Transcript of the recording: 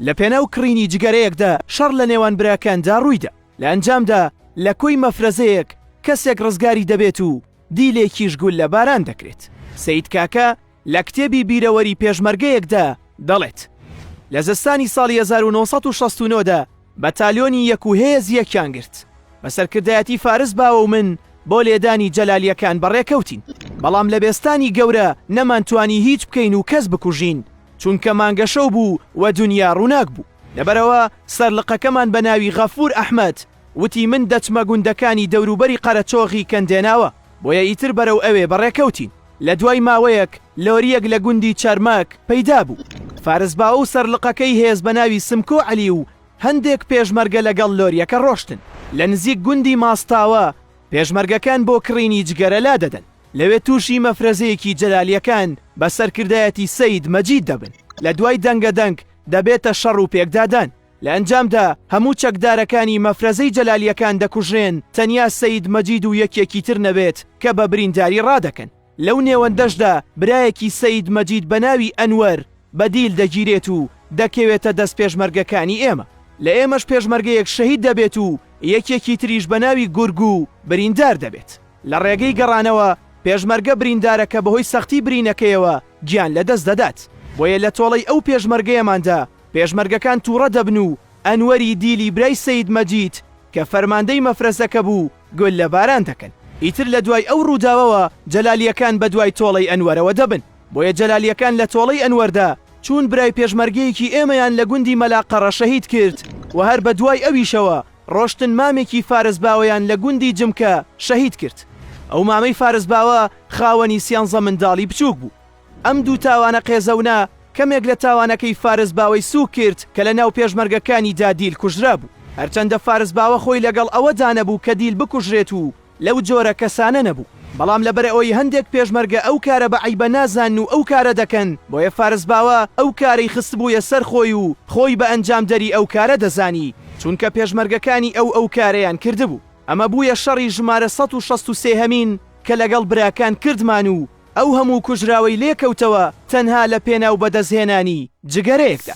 لەپێناو کڕینی جگەرەیەکدا شەڕ لە نێوان براکاندا ڕوویدا، لە ئەنجامدا لە کۆی مەفرەزەیەک کەسێک ڕزگاری دەبێت و دیلێکیش گوللە باران دەکرێت. سەید کاکە لە کتێبی بیرەوەری پێشمەرگەیەکدا دەڵێت، لە زستانی ساڵی هەزار و نۆ سەد و شەست و نۆ دا، بەتالیۆنی یەک و هێز یەکیان گرت بە سەرکردایەتی فارس باوە و من بۆ لێدانی جەلالیەکان بەڕێکەوتین بەڵام لە بێستانی گەورە نەمانتوانی هیچ بکەین و کەس بکوژین چونکە مانگەشەو بوو و دونیا ڕوناک بوو لەبەرەوە سەرلقەکەمان بە ناوی غەفور ئەحمەد وتی من دەچمە گوندەکانی دەوروبەری قەرەچۆغی کەندێناوە بۆیە ئیتر بەرەو ئەوێ بەڕێکەوتین. لە دوای ماوەیەک لۆرییەک لە گوندی چەرمەک پەیدا بوو. فارس باو و سەرلقەکەی هێز بە ناوی سمکۆ عەلی و هەندێک پێشمەرگە لەگەڵ لۆرییەکە ڕۆشتن. لە نزیک گوندی ماستاوە پێشمەرگەکان بۆ کڕینی جگەرە لادەدەن. لەوێ تووشی مەفرەزەیەکی جەلالییەکان بە سەرکردایەتی سەید مەجید دەبن. لە دوای دەنگەدەنگ دەبێتە شەڕ و پێکدادان. لە ئەنجامدا هەموو چەکدارەکانی مەفرەزەی جەلالیەکان دەکوژرێن تەنیا سەید مەجید و یەکێکی تر نەبێت کە بە برینداری ڕادەکەن. لەو نێوەندەشدا برایەکی سەید مەجید بە ناوی ئەنوەر بە دیل دەگیرێت و دەکەوێتە دەست پێشمەرگەکانی ئێمە. لە ئێمەش پێشمەرگەیەک شەهید دەبێت و یەکێکی تریش بە ناوی گورگو بریندار دەبێت. لە ڕێگەی گەڕانەوە پێشمەرگە بریندارەکە بەهۆی سەختی برینەکەیەوە گیان لەدەست دەدات. بۆیە لە تۆڵەی ئەو پێشمەرگەیەماندا پێشمەرگەکان تووڕە دەبن و ئەنوەری دیلی برای سەید مەجید کە فەرماندەی مەفرەزەکە بوو گوللە باران دەکەن. ئیتر لە دوای ئەو ڕووداوەوە جەلالییەکان بە دوای تۆڵەی ئەنوەرەوە دەبن. بۆیە جەلالییەکان لە تۆڵەی ئەنوەردا چوون برای پێشمەرگەیەکی ئێمەیان لە گوندی مەلا قەڕە شەهید کرد و هەر بە دوای ئەویشەوە ڕۆشتن مامێکی فارس باوەیان لە گوندی جمکە شەهید کرد. ئەو مامەی فارس باوە خاوەنی سیانزە منداڵی بچووک بوو. ئەم دوو تاوانە قێزەونە کەمێک لە تاوانەکەی فارس باوەی سووک کرد کە لە ناو پێشمەرگەکانی دا دیل کوژرابوو. هەرچەندە فارس باوە خۆی لەگەڵ ئەوە دا نەبوو کە دیل بکوژرێت و لەو جۆرە کەسانە نەبوو، بەڵام لە بەر ئەوەی هەندێک پێشمەرگە ئەو کارە بە عەیبە نازانن و ئەو کارە دەکەن، بۆیە فارس باوە ئەو کارەی خستبوویە سەر خۆی و خۆی بە ئەنجامدەری ئەو کارە دەزانی، چونکە پێشمەرگەکانی ئەو ئەو کارەیان کردبوو. ئەمە بوویە شەڕی ژمارە سەد و شەست و سێ هەمین کە لەگەڵ براکان کردمان و ئەو هەموو کوژراوەی لێکەوتەوە تەنها لە پێناو بەدەستهێنانی جگەرەیەکدا.